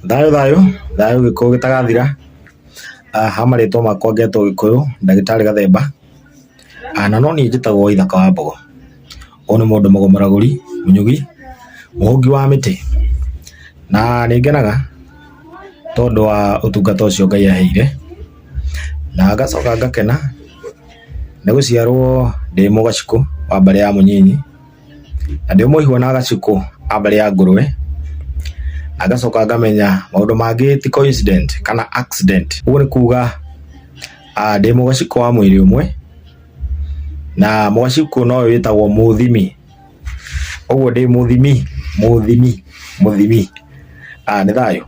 Thayũ thayũ, thayũ gĩkũyũ gĩtagathira, ha marĩtwa makwa ngetwo gĩkũyũ ndagĩtarĩ gathemba, na no niĩ njĩtagwo ithaka wa mbogo, ũyũ nĩ mũndũ mũgũmũragũri, mũnyugi, mũhũngi wa mĩtĩ, na nĩ ngenaga tondũ wa ũtungata ũcio Ngai aheire, na ngacoka ngakena nĩ gũciarwo ndĩ mũgacikũ wa mbarĩ ya mũnyinyi. na ndĩ mũihwo na gacukũ a mbere ya ngũrũwe na ngacoka ngamenya maũndũ mangĩ ti coincident kana accident ũguo nĩ kuga ah, ndĩ mũgacukũ wa mwĩrĩ ũmwe na mũgacukũ no ũyũ wĩtagwo mũthimi ũguo ndĩ mũthimi mũthimi mũthimi ah, nĩ thayũ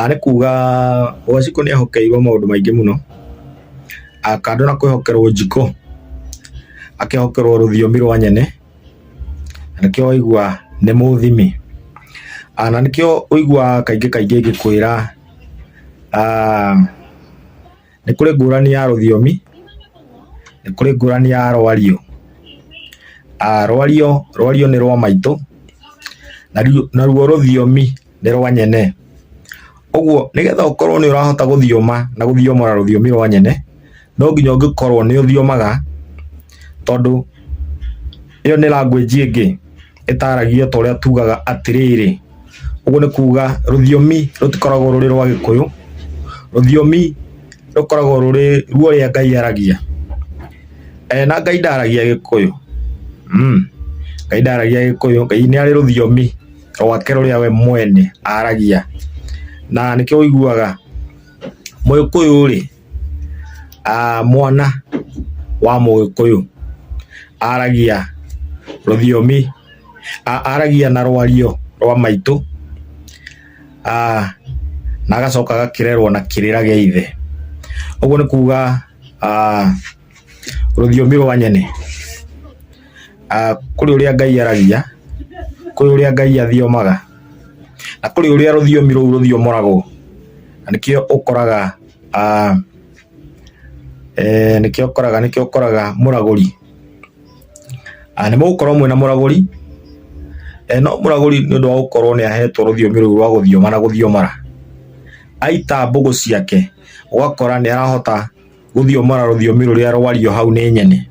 Nĩ kuga Wanjikũ nĩ ahokeirwo maũndũ maingĩ mũno, kando na kwĩhokerwo njiko, akĩhokerwo rũthiomi rwa nyene, na nĩkĩo waigua nĩ mũthimi. Na nĩkĩo ũiguaga kaingĩ kaingĩ ngĩkwĩra Nĩ kũrĩ ngũrani ya rũthiomi, nĩ kũrĩ ngũrani ya rwario. Ah, rwario, rwario nĩ rwa maitũ, naruo, naruo rũthiomi nĩ rwa nyene. Ũguo nĩgetha ũkorwo nĩ ũrahota gũthioma na gũthiomora rũthiomi rwa nyene, no nginya ũngĩkorwo nĩ ũthiomaga tondũ ĩyo nĩ language ĩngĩ ĩtaragio ta ũrĩa tugaga atĩrĩrĩ ũguo nĩ kuga rũthiomi rũtikoragwo rũrĩ rwa gĩkũyũ rũthiomi rũkoragwo rũrĩ ruo rĩa ngai aragia e, na ngai ndaragia gĩkũyũ mm. ngai ndaragia gĩkũyũ ngai nĩ arĩ rũthiomi rwake rũrĩa we mwene aragia na nĩkĩo ũiguaga mũgĩkũyũ rĩ Mwana wa mũgĩkũyũ aragia rũthiomi, aragia na rwario rwa maitũ na agacoka agakĩrerwo na kĩrĩra gĩa ithe. Ũguo nĩ kuga rũthiomi rwa nyene ah, kũrĩ ũrĩa ngai aragia kũrĩ ũrĩa ngai athiomaga na kũrĩ ũrĩa rũthiomi rũu rũthiomoragwo na nĩkĩo ũkoraga ah, eh, nĩkĩo ũkoraga nĩkĩo ũkoraga mũragũri Ah, nĩ mũgũkorwo mwĩna mũragũri Eh, no mũragũri nĩ ũndũ wa gũkorwo nĩ ahetwo rũthiomi rũu rwa gũthioma na gũthiomara aita mbũgũ ciake ũgakora nĩ arahota gũthiomora rũthiomi rũrĩa rwario hau nĩ nyene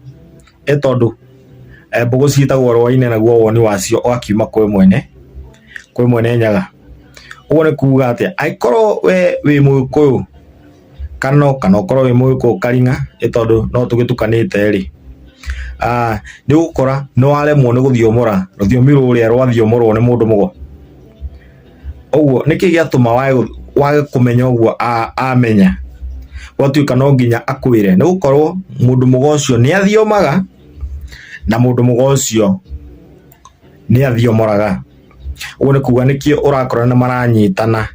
nĩ tondũ mbũgũ ciĩtagwo rwainĩ naguo woni wacio ũgakiuma kwĩ mwene kwĩ mwene nyaga. Ũguo nĩ kuga atĩ angĩkorwo we wĩ mũgĩkũyũ kana ũkorwo wĩ mũgĩkũyũ karing'a nĩ tondũ no tũgĩtukanĩte rĩ, nĩ ũgũkora nĩ waremwo nĩ gũthiomora rũthiomi rũrĩa rwathiomorwo nĩ mũndũ mũgo. ũguo nĩkĩ gĩatũma wage kũmenya ũguo amenya gwatuĩka no nginya akwĩre nĩ gũkorwo mũndũ mũga ũcio nĩ athiomaga na mũndũ mũga ũcio nĩ athiomoraga ũguo nĩ kuga nĩkĩo ũrakora nĩ maranyitana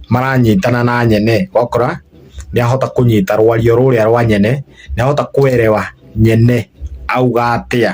maranyitana na nyene wakora nĩ ahota kũnyita rwario rũrĩa rwa nyene nĩ ahota kwerewa nyene auga atĩa.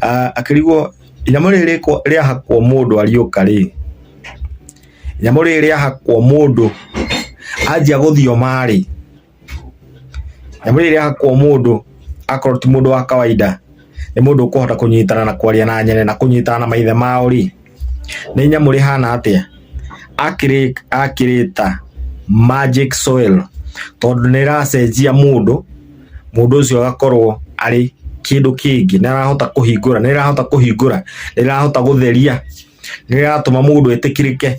Ah, akĩrigwo inyamũ rĩrĩ rĩkwa- rĩahakwo mũndũ ariũka rĩ inyamũ rĩrĩ rĩahakwo mũndũ anjia gũthioma rĩ inyamũ rĩrĩ rĩahakwo mũndũ akorwo ti mũndũ wa kawaida nĩ mũndũ ũkũhota kũnyitana na kwaria na nyene na kũnyitana na maithe mao rĩ nĩ nyamũ rĩhana atĩa Akĩrĩ- akĩrĩta magic soil tondũ nĩ ĩracenjia mũndũ mũndũ ũcio agakorwo arĩ kĩndũ kĩngĩ nĩ arahota kũhingũra nĩ ĩrahota kũhingũra nĩ ĩrahota gũtheria nĩ ĩratũma mũndũ etĩkĩrĩke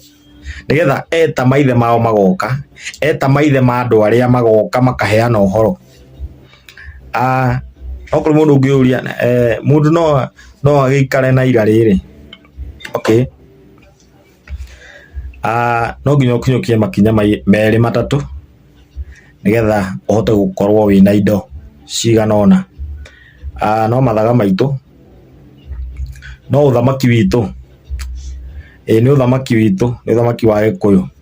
nĩgetha eta maithe mao magoka eta maithe ma andũ arĩa magoka makaheana ũhoro Okorwo mũndũ ũngĩũria, mũndũ no agĩikare na ira rĩrĩ? Okay. No nginya ũkinyũkie makinya merĩ matatũ nĩgetha ũhote gũkorwo wĩna indo cigana ũna. No mathaga maitũ, no ũthamaki witũ, ĩĩ nĩ ũthamaki witũ, nĩ ũthamaki wa Gĩkũyũ.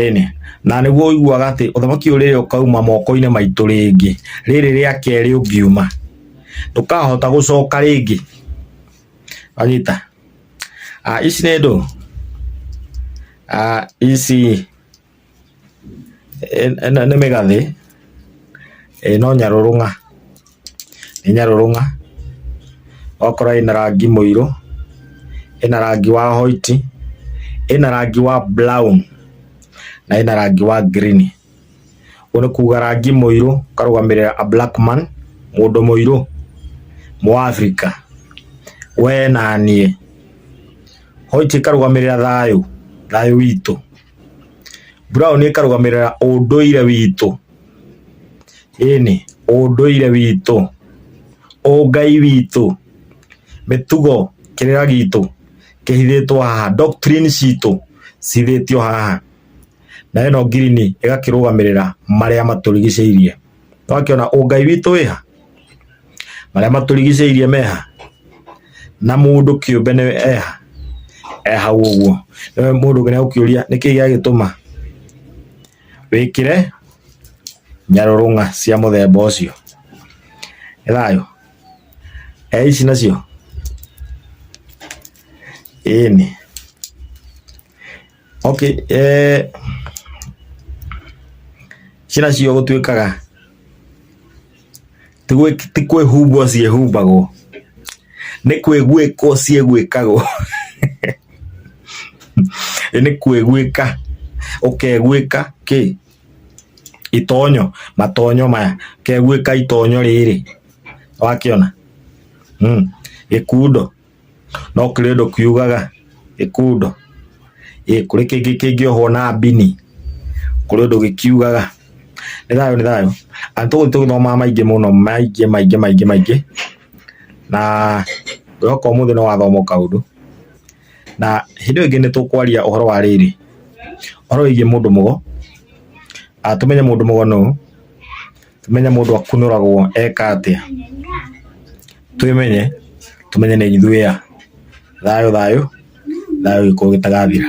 Ĩnĩ, na nĩguo ũiguaga atĩ ũthamaki ũrĩrĩ ũkauma moko-inĩ maitũ rĩngĩ, rĩrĩ rĩa kerĩ ũngiuma, ndũkahota gũcoka rĩngĩ. Wanyita? Ici nĩ ndũ, ici. Ĩno nĩ mĩgathĩ, ĩĩ no nyarũrũng'a, nĩ nyarũrũng'a, ũgakora ĩna rangi mũirũ, ĩna rangi wa hwaiti, ĩna rangi wa brown na ĩna rangi wa green. Ũguo nĩ kuga rangi mũirũ ũkarũgamĩrĩra a black man, mũndũ mũirũ, mũafrika, wee na niĩ. Hwaiti ĩkarũgamĩrĩra thayũ, thayũ witũ. Brown ĩkarũgamĩrĩra ũndũire witũ ĩni ũndũire witũ ũngai witũ mĩtugo kĩrĩra gitũ kĩhithĩtwo haha doctrine citũ cithĩtio haha na ĩno ngirini ĩgakĩrũgamĩrĩra marĩa matũrigicĩirie. twakiona ũngai witũ wĩha marĩa matũrigicĩirie meha na mũndũ kĩũmbe nĩ eha ehau ũguo nĩwe mũndũ ũngĩ nĩagũkĩũria nĩkĩ gĩagĩtũma wĩkĩre nyarũrũng'a cia mũthemba ũcio nĩ thayũ e ici nacio ĩni Okay, eh, ciĩra cio gũtuĩkaga ti gwĩ- ti kwĩhumbwo ciĩhumbagwo nĩ kwĩgwĩkwo ciĩgwĩkagwo Ĩ nĩ kwĩgwĩka ũkegwĩka kĩ itonyo matonyo maya ũkegwĩka itonyo rĩrĩ wakĩona mm. gĩkundo No kũrĩ ũndũ kiugaga gĩkundo, ĩ kũrĩ kĩngĩ kĩngĩohwo na mbini, kũrĩ ũndũ gĩkiugaga. Nĩ thayũ nĩ thayũ, and tũu nĩ tũgĩthomaga maingĩ mũno maingĩ maingĩ maingĩ maingĩ, na ngwĩhoka ũmũthĩ nĩ wathoma o kaũndũ. Na hĩndĩ ĩyo ĩngĩ nĩ tũkwaria ũhoro wa rĩrĩ, ũhoro wĩgiĩ mũndũ mũgo, tũmenye mũndũ mũgo nũ, Tũmenye mũndũ akunũragwo eka atĩa? Twĩmenye, tũmenye nĩ ithuĩ a. Thayũ thayũ, thayũ gĩkũyũ gĩtagathira.